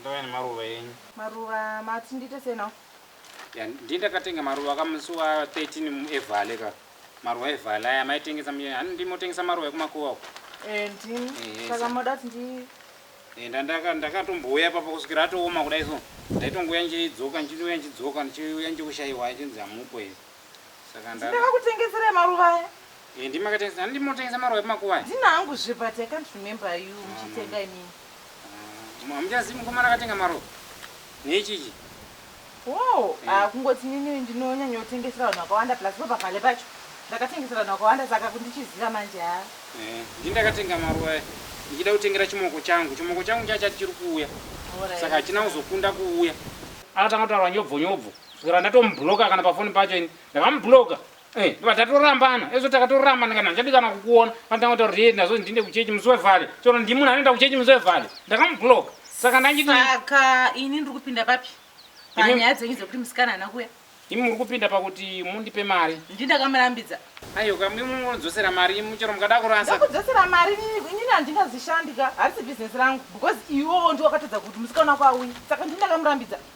Ndouya nemaruva enyu. Maruva mati ndiite sei now? Ya ndiye ndakatenga maruva ka musi wa 13 mu evale ka. Maruva evale aya maitengesa muye hani ndimi motengesa maruva ekumakuva uko. Eh ndimi. Eh, Saka sa- moda kuti ndi Eh, nda- ndaka- ndakatombouya papa kusvikira atooma kudai so ndaitongouya ndichidzoka ndichiuya ndichidzoka ndichiuya ndichikushaiwa ichinzi hamupo here Saka ndava. Ndinova kutengesera maruva aya. Eh, ndima katengesa. Handi motengesa maruva emakuva. Ndina hangu zve but I can't remember you ah, muchitenga imi. Ah, Hamuchazi mukomana akatenga maruva. Nechichi. Wow, eh. ah kungoti nini ndinonyanya kutengesera vanhu vakawanda plus ropa pale pacho. Ndakatengesera vanhu vakawanda saka kundichiziva manje ha. Ah. Eh, ndindakatenga maruva aya. Ndichida kutengera chimoko changu. Chimoko changu chacha chiri kuuya. Saka hachina kuzokunda kuuya. Akatanga kutaura nyobvo nyobvo. kusvikira ndatomubloka kana pafoni pacho ini ndakamubloka eh, ndobva tatorambana ezvo takatorambana kana ndichadikana kukuona anotanga kutaura kuti ndazvo ndiende kuchechi musi wevhale chero ndi munhu anoenda kuchechi musi wevhale ndakamubloka saka ndachiti saka ini ndiri kupinda papi panyaya dzenyu dzekuti musikana haana kuya imi muri kupinda pakuti mundipe mari ndi ndakamurambidza aiyo kamwe munodzosera mari imi chero mukada kurasa ndakudzosera mari inini handingazishandi ka harisi bhizinesi rangu because iwewo ndiwakatadza kuti musikana wako auyi saka ndi ndakamurambidza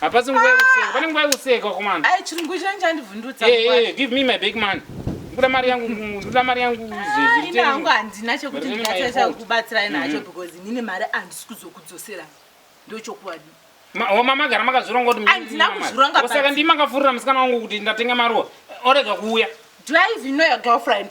Hapasi nguva yekuseka. Pane nguva yekuseka komanda. Ai chirungu chino chandivhundutsa. Eh, eh, give me my big man. Ndoda mari yangu, ndoda mari yangu zvezvi. Ina hangu handina chekuti ndingatsa kubatsira ina hacho mm-hmm. because nine mari andisi kuzokudzosera. Ndochokwadi. Oh, mama gara makazvironga kuti handina kuzvironga basi. Saka ndimi makavhurira musikana wangu kuti ndatenga maruwa. Orega kuuya. Do I even know your girlfriend?